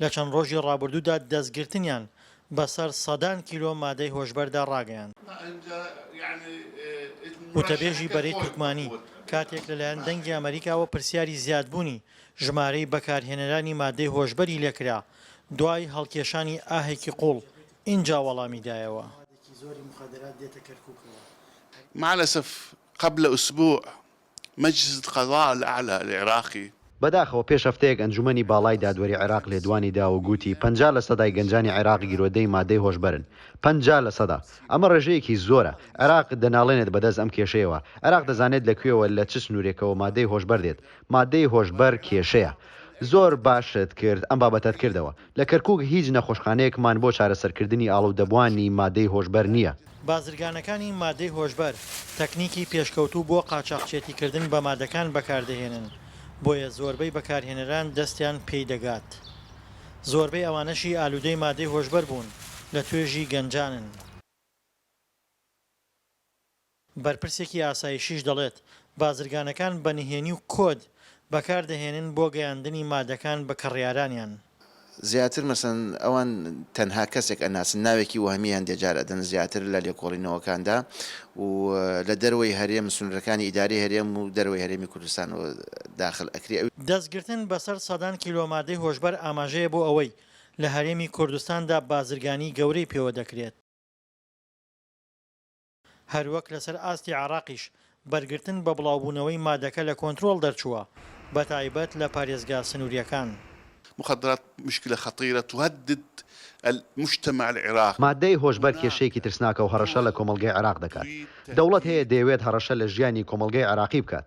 لە چەند ڕۆژی ڕابردوودا دەستگرتنیان بە سەر سەدان کیلۆ مادەی هۆشبەردا ڕاگەیاند. وتەبێژی بەرەی تورکمانی کاتێک لەلایەن دەنگی ئەمەریکاوە پرسیاری زیادبوونی ژمارەی بەکارهێنەرانی مادەی هۆشبەری لێ کرا دوای هەڵکێشانی ئاهێکی قووڵ ئینجا وەڵامی دایەوە. مالەسەف قبل اسبوع مجلس القضاء الاعلی العراقی، بەداخەوە پێش هەفتەیەک ئەنجومەنی باڵای دادوەری عێراق لێدوانی دا و گووتی پەنجا لە سەدای گەنجانی عێراق گیرۆدەی مادەی هۆشبەرن. پەنجا لە سەدا. ئەمە ڕێژەیەکی زۆرە. عێراق دەناڵێنێت بەدەست ئەم کێشەیەوە. عێراق دەزانێت لە کوێوە لە چ سنوورێکەوە مادەی هۆشبەر دێت. مادەی هۆشبەر کێشەیە. زۆر باشت کرد ئەم بابەتەت کردەوە. لە کەرکووک هیچ نەخۆشخانەیەکمان بۆ چارەسەرکردنی ئاڵودەبووانی مادەی هۆشبەر نییە. بازرگانەکانی مادەی هۆشبەر تەکنیکی پێشکەوتوو بۆ قاچاخچێتیکردن بە مادەکان بەکاردەهێنن، بۆیە زۆربەی بەکارهێنەران دەستیان پێی دەگات. زۆربەی ئەوانەشی ئالوودەی مادەی هۆشبەر بوون، لە توێژی گەنجانن. بەرپرسێکی ئاسایشیش دەڵێت، بازرگانەکان بە نهێنی و کۆد بەکاردەهێنن بۆ گەیاندنی مادەکان بە کڕیارانیان. زیاتر مەسەن ئەوان تەنها کەسێک ئەناسن، ناوێکی وەهمییان دێجار ئەدەن زیاتر لە لێکۆڵینەوەکاندا و لە دەرەوەی هەرێم سنوورەکانی ئیدارەی هەرێم و دەرەوەی هەرێمی کوردستانەوە داخل ئەکری. دەستگرتن بەسەر سەدان کیلۆ مادەی هۆشبەر ئاماژەیە بۆ ئەوەی لە هەرێمی کوردستاندا بازرگانی گەورەی پێوە دەکرێت. هەروەک لەسەر ئاستی عێراقیش بەرگرتن بە بڵاوبوونەوەی مادەکە لە کۆنترۆڵ دەرچووە، بەتایبەت لە پارێزگا سنوورییەکان. مخدرات مشکلە خطیرە تهدد المجتمع العراقی. مادەی هۆشبەر کێشەیەکی ترسناکە و هەڕەشە لە کۆمەڵگەی عێراق دەکات. دەوڵەت هەیە دەیەوێت هەڕەشە لە ژیانی کۆمەڵگەی عێراقی بکات.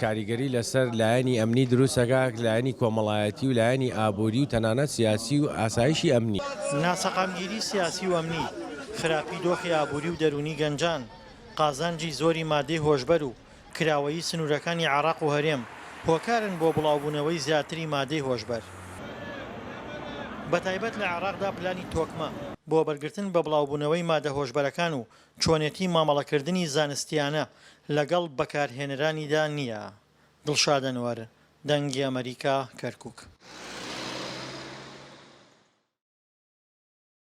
کاریگەری لەسەر لایەنی ئەمنی دروست دەکات، لایەنی کۆمەڵایەتی و لایەنی ئابووری و تەنانەت سیاسی و ئاسایشی ئەمنی. ناسەقامگیری سیاسی و ئەمنی، خراپی دۆخی ئابووری و دەروونی گەنجان، قازانجی زۆری مادەی هۆشبەر و کراوەیی سنوورەکانی عێراق و هەرێم، هۆکارن بۆ بڵاوبوونەوەی زیاتری مادەی هۆشبەر، بەتایبەت لە عێراقدا پلانی تۆکمە بۆ بەرگرتن بە بڵاوبوونەوەی مادە هۆشبەرەکان و چۆنێتی مامەڵەکردنی زانستییانە لەگەڵ بەکارهێنەرانیدا نییە. دڵشاد ئەنوەر، دەنگی ئەمەریکا، کەرکووک.